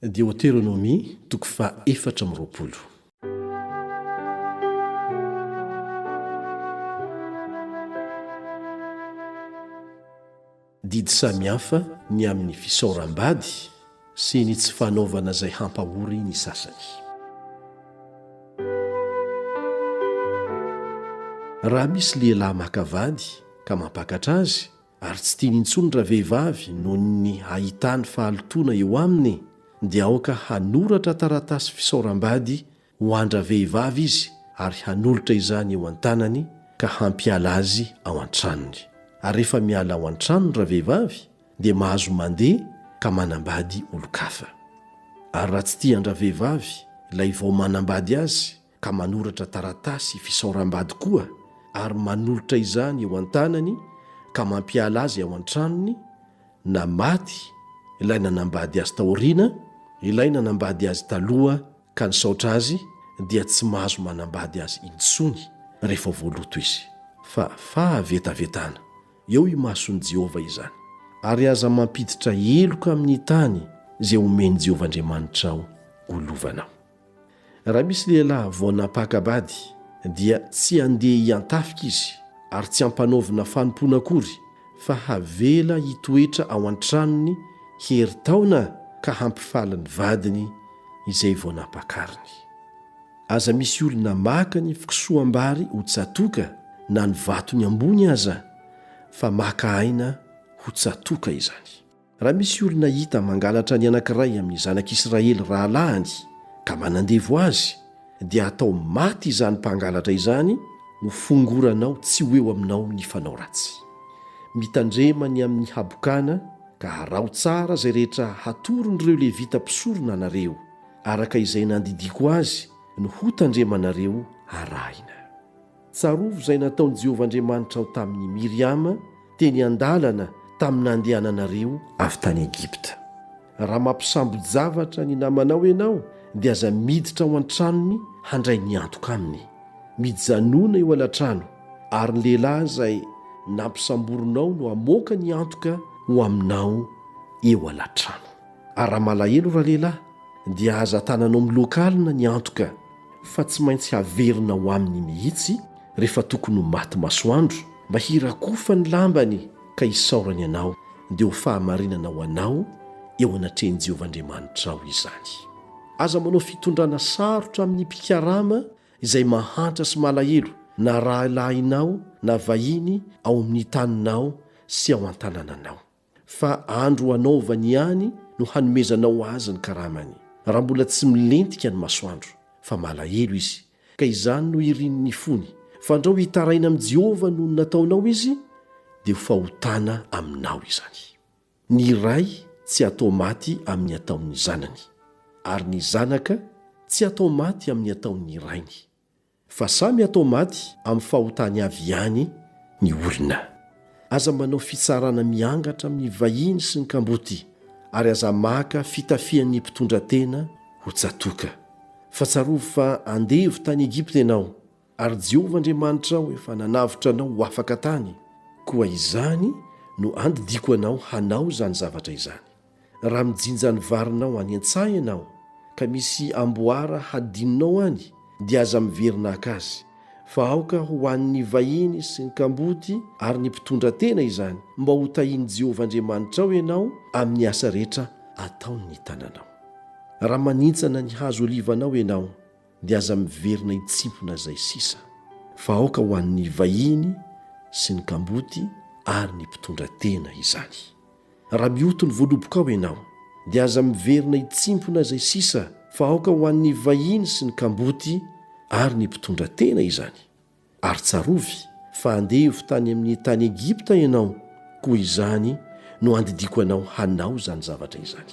Deoteronomia, toko faha efatra amby roapolo. Didy samihafa ny amin'ny fisaoram-bady sy ny tsy fanaovana izay hampahory ny sasany. Raha misy lehilahy maka vady ka mampakatra azy, ary tsy tiany intsony ravehivavy noho ny ahitany fahalotoana eo aminy dia aoka hanoratra taratasy fisaoram-bady ho an-dravehivavy izy ary hanolotra izany eo an-tanany ka hampiala azy ao an-tranony ary rehefa miala ao an-trano ny ravehivavy dia mahazo mandeha ka manambady olon-kafa ary raha tsy tian-dravehivavy ilay vao manambady azy ka manoratra taratasy fisaoram-bady koa ary manolotra izany eo an-tanany ka mampiala azy ao an-tranony, na maty ilay nanambady azy taoriana, ilay nanambady azy taloha ka nisaotra azy dia tsy mahazo manambady azy intsony rehefa voaloto izy, fa fahavetavetana eo imason'i Jehovah izany. Ary aza mampiditra heloka amin'ny tany izay omen'i Jehovah Andriamanitrao ho lovanao. Raha misy lehilahy vao nampaka-bady, dia tsy handeha hiantafika izy ary tsy hampanaovina fanompoana akory, fa havela hitoetra ao an-tranony herintaona ka hampifaly ny vadiny izay vao nampakariny. Aza misy olona maka ny fikosoham-bary ho tsatoka na ny vatony ambony aza, fa maka aina ho tsatoka izany. Raha misy olona hita mangalatra ny anankiray amin'ny zanak'Israely rahalahiny ka manandevo azy, dia atao maty izany mpangalatra izany ho fongoranao tsy ho eo aminao ny fanao ratsy. Mitandrema ny amin'ny habokana ka haraho tsara izay rehetra hatoron'ireo Levita mpisorona anareo, araka izay nandidiako azy no hotandremanareo harahina. Tsarovy izay nataon'i Jehovah Andriamanitrao tamin'i Miriama, teny an-dalana tamin'ny nandehananareo avy tany Egypta. Raha mampisambo-javatra ny namanao ianao, dia aza miditra ao an-tranony handray ny antoka aminy. Mijanòna eo alatrano, ary ny lehilahy izay nampisamborinao no hamoaka ny antoka ho aminao eo alatrano. Ary raha malahelo ralehilahy, dia aza tananao miloaka alina ny antoka. fa tsy maintsy haverina ao aminy mihitsy rehefa tokony ho maty masoandro, mba hirakofany ny lambany ka hisaorany anao, dia ho fahamarinana ho anao eo anatrehan'i Jehovah Andriamanitrao izany. Aza manao fitondrana sarotra amin'ny mpikarama izay mahantra sy malahelo, na rahalahinao na vahiny ao amin'ny taninao sy ao an-tanànanao. fa andro hanaovany ihany no hanomezanao azy ny karamany, raha mbola tsy milentika ny masoandro, fa malahelo izy, ka izany no irin'ny fony, fandrao hitaraina amin'i Jehovah noho ny nataonao izy, dia ho fahotana aminao izany. Ny ray tsy atao maty amin'ny ataon'ny zanany, ary ny zanaka tsy atao maty amin'ny ataon'ny rainy. fa samy atao maty amin'ny fahotany avy ihany ny olona. Aza manao fitsarana miangatra amin'ny vahiny sy ny kamboty ary aza maka fitafian'ny mpitondra tena ho tsatoka. Fa tsarovy fa andevo tany Egypta ianao ary Jehovah Andriamanitrao efa nanavotra anao ho afaka tany, koa izany no andidiako anao hanao izany zavatra izany. Raha mijinja ny varinao any an-tsaha ianao ka misy amboara hadinonao any dia aza miverina haka azy fa aoka ho an'ny vahiny sy ny kamboty ary ny mpitondra tena izany mba ho tahin'i Jehovah Andriamanitrao ianao amin'ny asa rehetra ataon'ny tananao. Raha manintsana ny hazo olivanao ianao dia aza miverina hitsimpona izay sisa fa aoka ho an'ny vahiny sy ny kamboty ary ny mpitondra tena izany. Raha mioty ny voalobokao ianao, dia aza miverina hitsimpona izay sisa fa aoka ho an'ny vahiny sy ny kamboty ary ny mpitondra tena izany. Ary tsarovy fa andevo tany amin'ny tany Egypta ianao, koa izany no andidiako anao hanao izany zavatra izany.